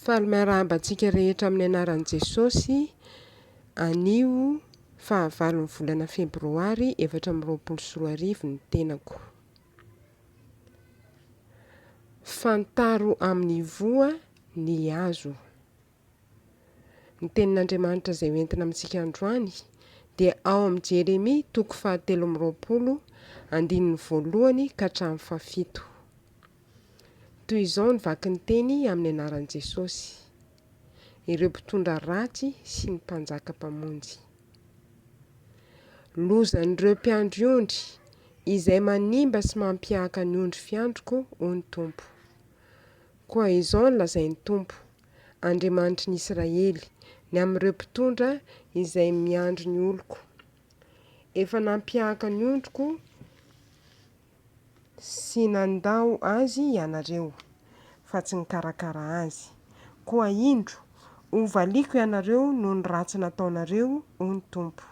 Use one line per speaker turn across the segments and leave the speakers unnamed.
Faly miarahaba antsika rehetra amin'ny anaran'i Jesosy anio fahavalon'ny volana febroary efatra amby roapolo sy roa arivo ny tenako. Fantaro amin'ny voa ny azo. Ny tenin'Andriamanitra izay ho entina amintsika androany dia ao amin'ny Jeremia toko fahatelo amby roapolo andininy voalohany ka hatramin'ny fahafito. Toy izao ny vaky ny teny amin'ny anaran'i Jesosy, ireo mpitondra ratsy sy ny mpanjaka mpamonjy. Lozan'ireo mpiandry ondry, izay manimba sy mampihaka ny ondry fiandriko, hoy ny Tompo. Koa izao no lazain'ny Tompo, Andriamanitry ny Israely, ny amin'ireo mpitondra izay miandry ny oloko. Efa nampiahaka ny ondriko sy nandao azy ianareo, fa tsy nikarakara azy. Koa indro, hovaliako ianareo noho ny ratsy nataonareo, hoy ny Tompo.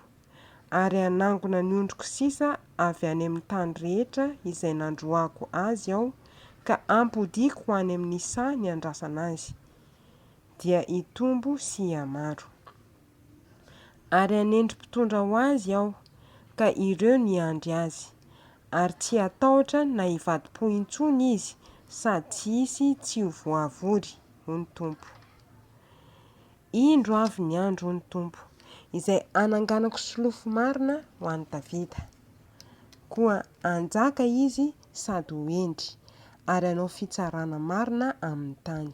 ary hanangona ny ondriko sisa avy any amin'ny tany rehetra izay nandroahako azy aho, ka hampodiako ho any amin'ny saha niandrasana azy, dia hitombo sy hihamaro. Ary hanendry mpitondra ho azy aho, ka ireo no hiandry azy, ary tsy hatahotra na hivadi-po intsony izy, sady tsy hisy tsy ho voavory, hoy ny Tompo. Indro avy ny andro, hoy ny Tompo, izay hananganako solofo marina ho an'i Davida. Koa hanjaka izy sady ho hendry, ary hanao fitsarana marina amin'ny tany.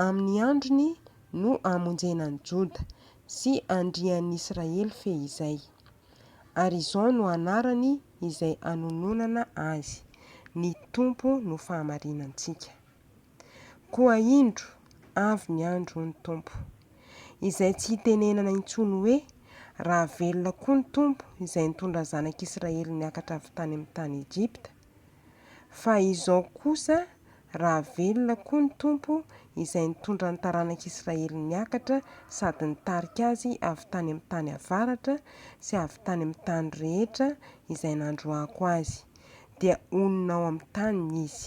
Amin'ny androny no hamonjena an'i Joda sy handrian'ny Israely fehizay. Ary izao no anarany izay hanononana azy, Ny Tompo no fahamarinantsika. Koa indro, avy ny andro, hoy ny Tompo, izay tsy hitenenana intsony hoe, Raha velona koa ny Tompo izay nitondra zanak'Israely niakatra avy tany amin'ny tany Egypta, fa izao kosa, Raha velona koa ny Tompo izay nitondra ny taranak'Israely niakatra sady nitarika azy avy tany amin'ny tany avaratra sy avy tany amin'ny tany rehetra izay nandroahako azy, dia honina ao amin'ny taniny izy.